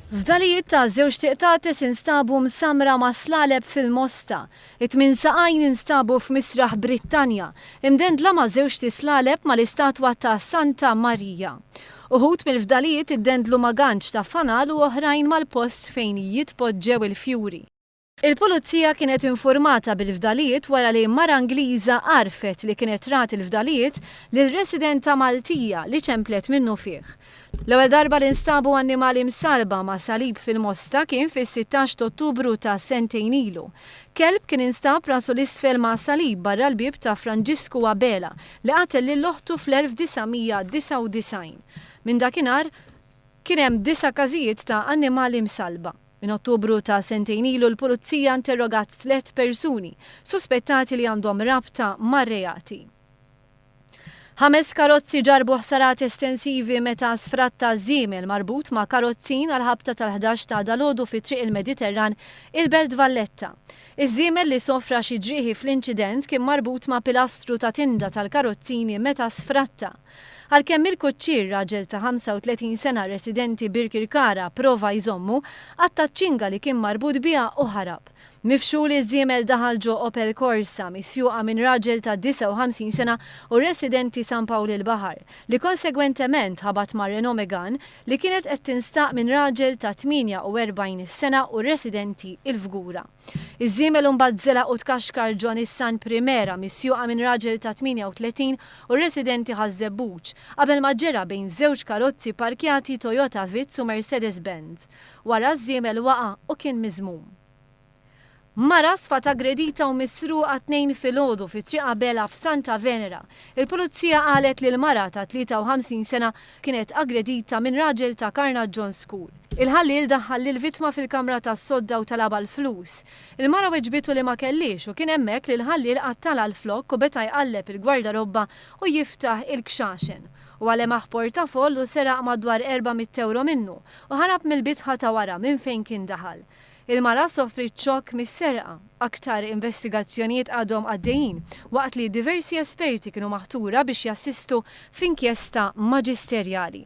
Fdalijiet ta' żewġt iqtates instabu msammra ma' slaleb fil-Mosta. It-tmien saqajn instabu f'Misraħ Brittanja, imdendla ma' żewġt islaleb mal-istatwa ta' Santa Marija. Uħud mill-fdalijiet iddendlu ma' ganċ ta' fanal u oħrajn mal-post fejn jitpoġġew il-fjuri. Il-Pulizija kienet infurmata bil-fdalijiet wara li mara Ingliża għarfet li kienet trat l-fdalijiet lil residenta Maltija li ċemplet minnufih. L-ewwel darba li nstabu annimali msallba ma' salib fil-Mosta kien fis-sittax t'Ottubru ta' sentejn ilu. Kelb kien instab rasu l-isfel ma' salib barra l-bieb ta' Franġisku Abela li qatel lil oħtu fl-1999. Minn dakinhar kien hemm disa' każijiet ta' annimali msallba. Minn Ottubru ta' sentejn ilu l-Pulizija interrogat tliet persuni suspettati li għandhom rabta mar-reati. Ħames karozzi ġarrbu ħsarat estensivi meta sfratta żiemel marbut ma' karozzin għall-ħabta tal-ħdax ta' dalgħodu fi Triq il-Mediterran, il-Belt Valletta. Iż-żiemel li sofra xi ġrieħi fl-inċident kien marbut ma' pilastru ta' tinda tal-karozzini meta sfratta. Għalkemm il-kuċċier, raġel ta' 35 sena residenti Birkirkara, prova jżommu, qatta' ċ-ċinga li kien marbut biha u ħarab. Mifxul, iż-żiemel daħal ġo Opel Corsa, misjuqa minn raġel ta' 59 sena u residenti San Pawl il-Baħar, li konsegwentement ħabat ma' Renault Megane li kienet qed tinstaq minn raġel ta' 48 sena u residenti Il-Fgura. Iż-żiemel imbagħad żelaq u tkaxkar ġo Nissan Primera misjuqa minn raġel ta' 38 u residenti Ħaż-Żebbuġ, qabel ma ġġera bejn żewġ karozzi pparkjati Toyota Vitz u Mercedes Benz. Wara ż-żiemel waqa' u kien miżmum. Mara sfat aggredita u misruqa t-Tnejn filgħodu fi Triq Abela f'Santa Venera. Il-Pulizija qalet li l-mara ta' 53 sena kienet aggredita minn raġel ta' Karnaġġon School. Il-ħalliel daħħal lill-vittma fil-kamra tas-sodda u talabha l-flus. Il-mara weġbitu li ma kellhiex u kien hemmhekk li l-ħalliel qattalha l-flokk u beta' jqalleb il-gwardarobba u jiftaħ il-kxaxen. Huwa lemaħ portafoll u seraq madwar erba' mitt ewro minnu u ħarab mill-bitħa ta' wara minn fejn kien daħal. Il-mara sofriet xokk mis-serqa. Aktar investigazzjonijiet għadhom għaddejjin, waqt li diversi esperti kienu maħtura biex jassistu f'inkjesta maġisterjali.